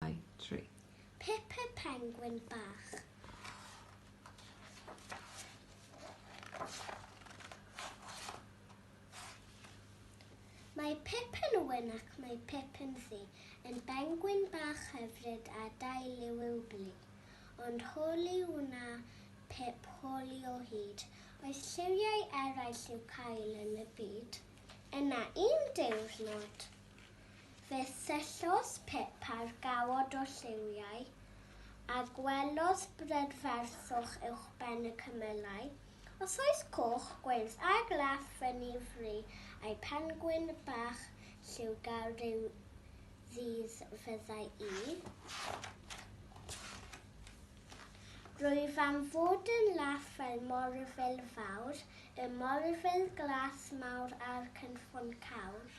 Dau, tri. Peppa Penguin Bach. Mae Peppa'n wen ac mae Peppa'n ddu, yn bengwin bach hyfryd a dail yw i'w blu. Ond holi wna Pip holi o hyd. Oes lliwiau eraill i'w cael yn y byd? Yna un diwrnod, Fe syllodd Pippa'r gawod o lliwiau, a gwelodd brydferthwch uwchben y cymylau, osoes coch, gwyrdd a glas fyny fry, a'i phengwin bach lliwgar ryw ddydd fyddai i. Rwyf am fod yn laff fel morfil fawr, y morfil glas mawr a'r cynffon cawr.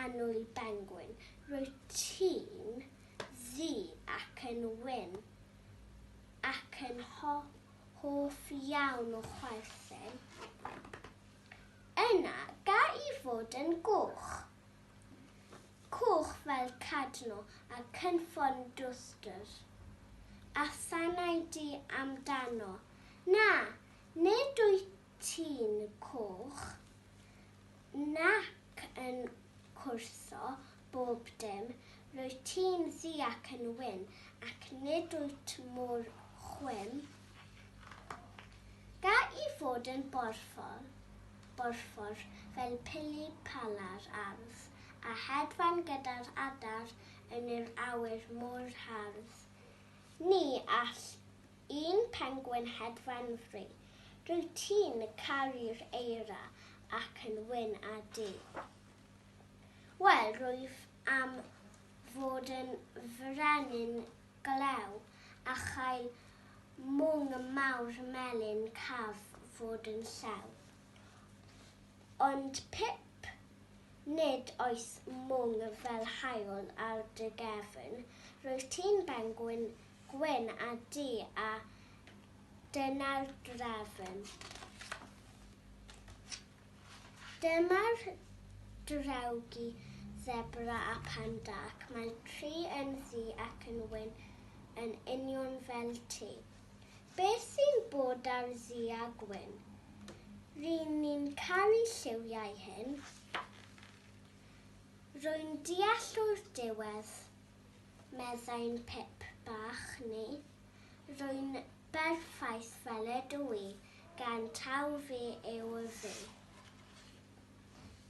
Annwyl Bengwyn, rwyt ti'n ddu ac yn wyn, ac yn hoff iawn o chwerthin. Yna, ga i fod yn goch? Coch fel Cadno a cynffon dwstr. A sanau di amdano? Na, nid wyt tun coch, nac yn cwrtho bob dim, rwyt ti'n ddu ac yn wyn, ac nid wyt mor chwim. Ga i fod yn borffor, borffor fel pili pala'r ardd, a hedfan gyda'r adar yn yr awyr mor hardd. Ni all Un pengwin hedfan fri. Rwyt ti'n caru'r eira ac yn wyn â du. Wel, rwyf am fod yn frenin glew a chael mwng mawr melyn caf fod yn llew. Ond Pip, nid oes mwng fel haul ar dy gefn, rwyt ti'n bengwin gwyn a du a dyna'r drefn. Dyma'r drewgi sebra a panda ac mae tri yn ddu ac yn wyn yn union fel ti. Beth sy'n bod ar ddu a gwyn? Ry'n ni'n caru lliwiau hyn. Rwy'n deall o'r diwedd meddai'n Pip bach ni. Rwy'n berffaith fel ydw i, gan taw fi yw'r fi.